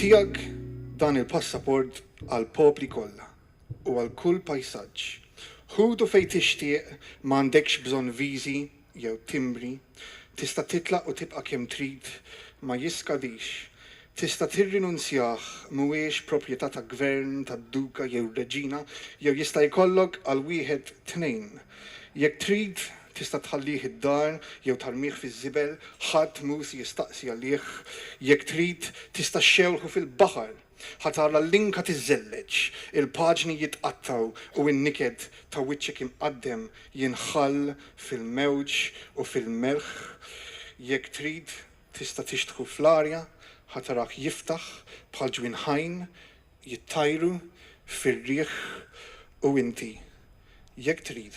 Tiegħek dan il-passaport għall-popli kollha u għal kull pajsaġġ. Ħudu fejn tixtieq, ma għandekx bżonn viżi jew timbri, tista' titlaq u tibqa' kemm trid, ma jiskadix. Tista' tirrinunzjah, mhuwiex proprjetà ta' gvern, ta' duka jew reġina, jew jista' jkollok għal wieħed tnejn. Jekk trid, Tista' tħallih id-dar jew tarmih fiż-żibel, ħadd mhu si jistaqsi għalih. Jekk trid, tista' xxewħu fil-baħar. Ħa tara l-linka tiżżelleġ, il-paġni jitqattgħu u n-niket ta' wiċċek imqaddem jinħall fil-mewġ u fil-melħ. Jekk trid, tista' tixtħu fl-arja, ħa tarah jiftaħ bħal ġwien ħajn, jittajru fir-riħ u inti, jekk trid,